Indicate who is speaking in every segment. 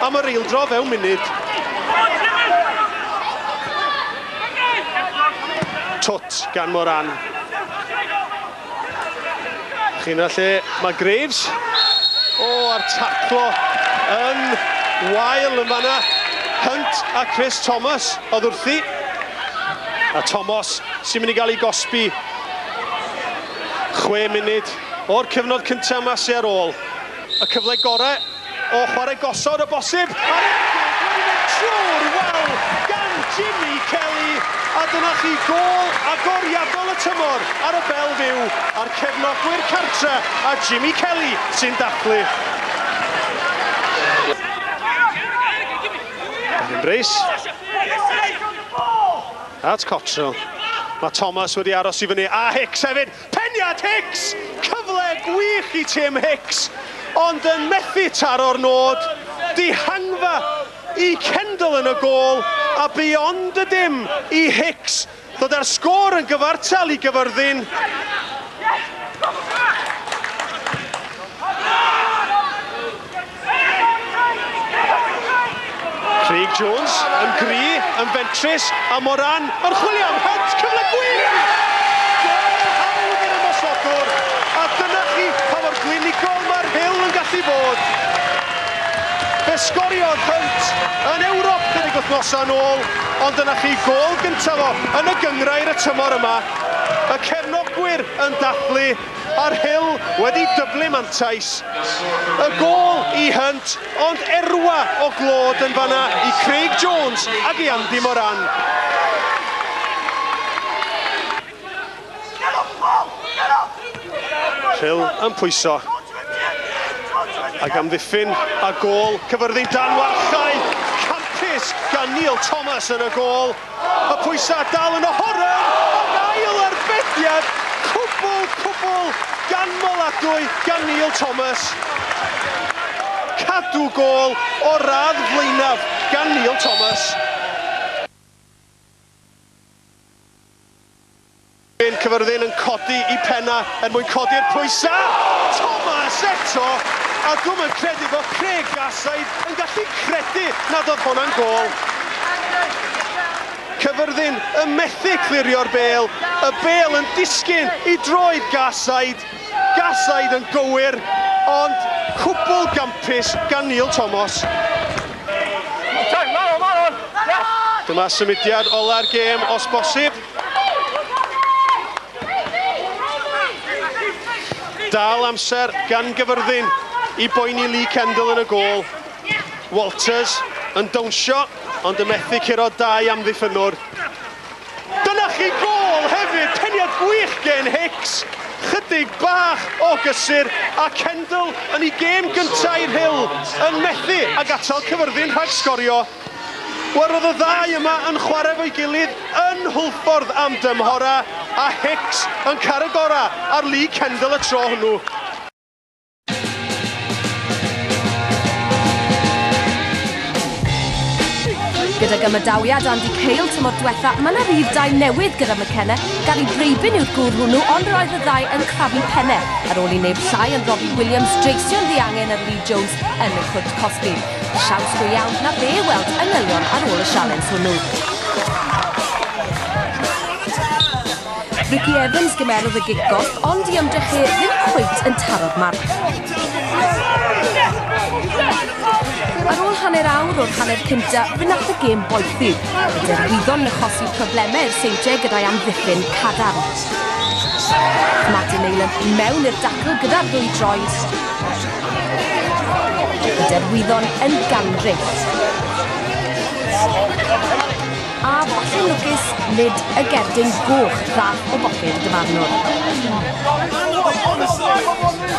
Speaker 1: Am yr eildro fewn munud. Twt gan Moran. Chi'n lle mae Graves. O, a'r taclo yn wael yn fanna. Hunt a Chris Thomas oedd wrthi. A Thomas sy'n mynd i gael ei gosbi. Chwe munud o'r cyfnod cyntaf mas ar ôl. Y cyfle gorau O chwarae gosod o bosib, a'r ergyd wedi mynd trwy'r wal gan Jimmy Kelly, a dyna chi gôl agoriadol y tymor ar y Belle Vue a'r cefnogwyr cartre a Jimmy Kelly sy'n dathlu. Evan Bruce. At Cottrell. Mae Thomas wedi aros i fyny a Hicks hefyd. Peniad Hicks! Cyfle gwych i Tim Hicks, ond yn methu taro'r nod, dihangfa i Kendall yn y gôl a bu ond y dim i Hicks ddod â'r sgôr yn gyfartal i Gyfyrddin. Craig Jones yn gry, yn fentrus, a Moran yn chwilio am hynt, cyfle gwych! Gol hawdd i'r ymosodwr, a dyna chi pa mor glinigol mae'r Rhyl yn gallu bod. Fe sgoriodd hynt yn Ewrop chydig wythnosau yn ôl, ond dyna chi gol gyntaf o yn y gynghrair y tymor yma. Y cefnogwyr yn dathlu. Ar Hill wedi dyblu mantais y gôl i Hunt ond erwa o glod yn fanna i Craig Jones ac i Andy Moran. Hill yn pwyso ac amddiffyn a gôl cyfyrddin dan warchae campus gan Neil Thomas yn y gôl. Y pwysau dal yn Ohoren ac ail arbediad cwbl cwbl ganmoladwy gan Neil Thomas. Cadw gôl o'r radd flaenaf gan Neil Thomas. Hen Cyfyrddin yn codi i penna er mwyn codi'r pwysa! Thomas eto! A dwm yn credu fod Craig Garside yn gallu credu nad oedd hwnna'n gôl! Cyfyrddin yn methu clirio'r bêl, y bêl yn disgyn i droed Garside! Garside yn gywir, ond cwbl gampus gan Neil Thomas. Dyma symudiad ola'r gêm os bosib. Dal amser gan gyfyrddin i boeni Lee Kendall yn y gol. Walters yn dawnsio, ond yn methu curo dau amddiffynwr. Dyna chi gol hefyd, peniad gwych gen Hicks. Chydig bach o gysur, a Kendall yn ei gêm gyntaf i'r Hill yn methu ag atal cyfyrddin rhag sgorio. Gwarodd y ddau yma yn chwarae efo'i gilydd yn Hwlffordd am dymhora, a Hicks yn cael y gorau ar Lee Kendall y tro hwnnw.
Speaker 2: Gydag ymadawiad Andy Cale tymor diwetha, mae yna rif dau newydd gyda McKenna. Gary Breibyn yw'r gŵr hwnnw, ond roedd y ddau yn crafu penne ar ôl i neb llai yn Robbie Williams dreisio'n ddiangen ar Lee Jones yn y cwrt cosbi. Siawns go iawn na be weld y ngylion ar ôl y sialens hwnnw. Rickie Evans gymerodd y gig goll, ond i ymdrech chi ddim cweit yn taro'r marc. Ar ôl hanner awr o'r hanner cynta, fe nath y gêm boethi. Y derwyddon yn chosi problemau i'r seintiau gyda'i amddiffyn cadarn. Martin Neylon mewn i'r dacl gyda'r ddwy droed. Y derwyddon yn gandryll. A botyn lwcus lid y gerdyn goch ddath o bopyr Dyfarnwr.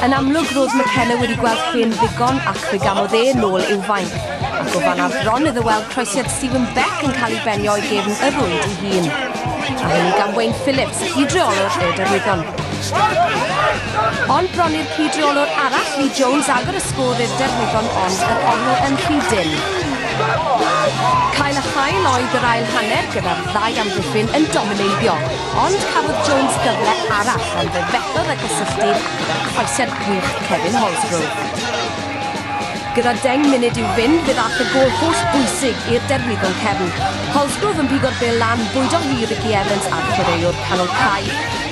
Speaker 2: Yn amlwg roedd McKenna wedi gweld llun ddigon ac fe gamodd e nôl i'w fainc, ac o fan ar bron iddo weld croesiad Stephen Beck yn cael ei benio o'i gefn y rwyd ei hun. A hynny gan Wayne Phillips, hyd-reolwr y derwyddon. Ond bron i'r cyd-reolwr arall, Lee Jones, agor y sgôr i'r derwyddon ond yr ofn yn rhy dynn. Cael a chael oedd yr ail hanner gyda'r ddau amddiffyn yn domineiddio, ond cafodd Jones gyfle arall ond fe fethodd a gysylltu gyda'r croesed gwych Kevin Holsgrove. Gyda deng munud i'w fynd, fe ddaeth y gôl holl bwysig i'r derwyddon cefn. Holsgrove yn pigo'r bel lan, bwydo hi i Ricky Evans a'r chwaraewr canol cae.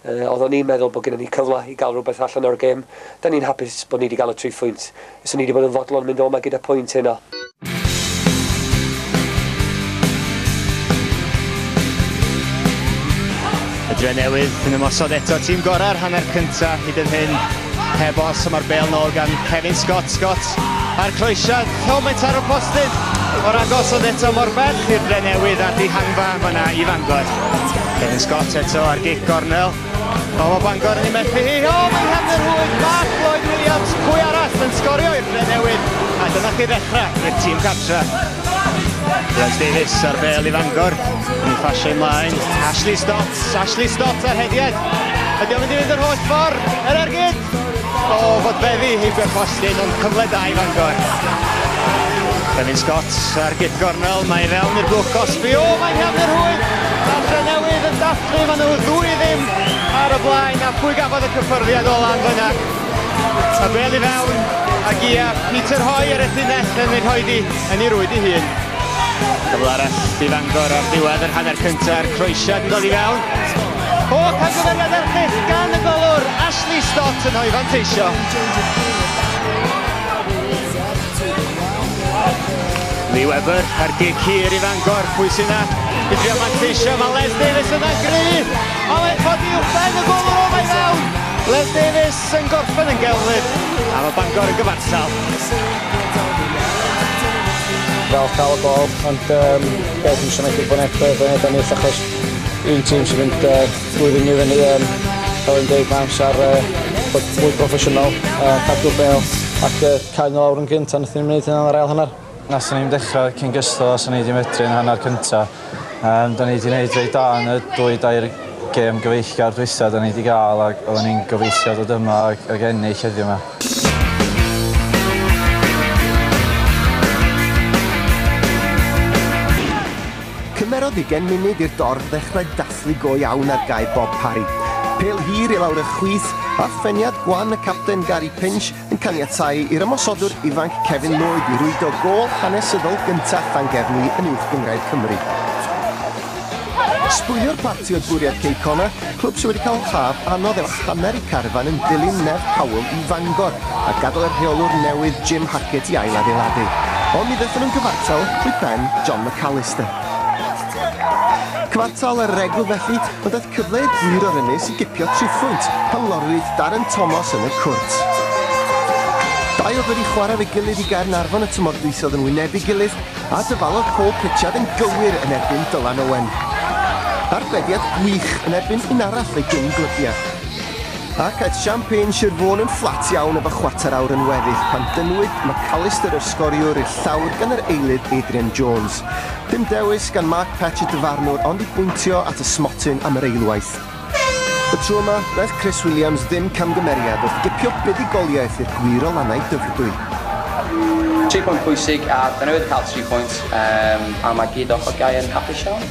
Speaker 3: Yy, oeddwn i'n meddwl bod gynnon ni cyfle i gael rhywbeth allan o'r gêm. Da ni'n hapus bod ni 'di gael y tri phwynt. Fyswn i 'di bod yn fodlon mynd o 'ma gyda pwynt heno.
Speaker 4: Y Drenewydd yn ymosod eto, tîm gorau'r hanner cyntaf hyd yn hyn. Heb os, mae'r bel nôl gan Kevin Scott. Scott a'r croesiad, helmet ar y postydd. O'r agos oedd eto mor bell i'r ble newydd a dihangfa fyna i Fangor. Kevin Scott eto ar gic gornel. O, mae Bangor yn ei methu hi. O, mae'n hefn yr hwyth. Mark Lloyd Williams, pwy arall yn sgorio i'r ble newydd. A dyna chi ddechrau i'r tîm cartra. Lloyd Davies ar bel i Fangor. Yn ei ffasio ymlaen. Ashley Stott. Ashley Stott ar hediad. Ydy o'n mynd i fynd yr holl ffordd? Yr ergyd! O, fod beddi heibio'r postyn, ond cyfle da i Fangor. Clefin Scott ar gip gornel, mae fewn i'r blwch gosbi. O, mae'n hafnir hwy! A Tre Newydd yn dathlu, maen nhw ddwy ddim ar y blaen, a pwy gafodd y cyffyrddiad ola yn fyna. A bel i fewn, a gia Peter Hoy ar y llinell yn ei rhoi di yn ei rwyd i hun. Cyfle arall i Fangor ar ddiwedd yr hanner cyntaf, a'r croesiad yn dod i fewn. O! Camgymeriad erchyll gan y golwr Ashley Stott yn rhoi fanteisio. Lee Webber ar gig hir i Fangor, pwy sy'n na? I drio manteisio, mae Les Davies yna gryf, a mae'n codi uwchben y gol o mae fewn. Les Davies yn gorffen yn gelflyd, a mae Bangor yn gyfansal.
Speaker 5: Fel cael y gol, ond um, beth dwi'n siarad bod neb yn edrych achos Un tîm sy'n mynd yy trwy fyny i fyny yym fel yn deud ma' amsar yy bod mwy proffesiynol yy cadw'r bêl ac yy cau n'w lawr yn gynt a nathon ni'm neud hynna yn yr ail hanner. Nathon ni'm dechra cyn gystal a swn i 'di medru yn hanner cynta. Yym 'da ni 'di neud reit da yn y dwy dair gêm gyfeillgar dwytha 'da ni 'di ga'l ag oddan ni'n gobeithio dod yma ag ag ennill heddiw 'ma.
Speaker 6: Cymerodd ugain munud i'r dorf ddechrau dathlu go iawn ar gae Bob Parry. Pêl hir i lawr y chwith, a pheniad gwan y capten Gary Pinch yn caniatáu i'r ymosodwr ifanc Kevin Lloyd i rwydo gôl hanesyddol gyntaf Llangefni yn Uwch Gynghrair Cymru. Sbwylio'r parti oedd bwriad Kay Connor, Clwb sydd wedi cael haf anodd efo hanner eu carfan yn dilyn nerth Powell i Fangor a gadael y rheolwr newydd Jim Hackett i ail-adeiladu. Ond mi ddaethon nhw'n gyfartal i ben John McAllister. Cyfartal ar yr egwyl felly, ond daeth cyfle i'r gwir o'r ynys i gipio tri phwynt pan lorwyd Darren Tomos yn y cwrt. Dau oedd wedi chwarae efo'i gilydd i Gaernarfon y tymor dwytha oedd yn wynebu'i gilydd a dyfalodd Paul Pritchard yn gywir yn erbyn Dylan Owen. Arbediad gwych yn erbyn un arall ei gyn-glybiau. Ac aeth Champagne Sir Fôn yn fflat iawn efo chwarter awr yn weddill pan dynnwyd McAllister yr sgoriwr i'r llawr gan yr eilydd Adrian Jones. Dim dewis gan Mark Patch y dyfarnwr ond i bwyntio at y smotyn am yr eilwaith. Y tro yma, wnaeth Chris Williams ddim camgymeriad wrth gipio buddugoliaeth i'r gwir o lannau Dyfrdwy.
Speaker 7: Tri phwynt pwysig a dyna oedd yn cael tri phwynt a mae gyd ochr gaeaf yn hapus iawn.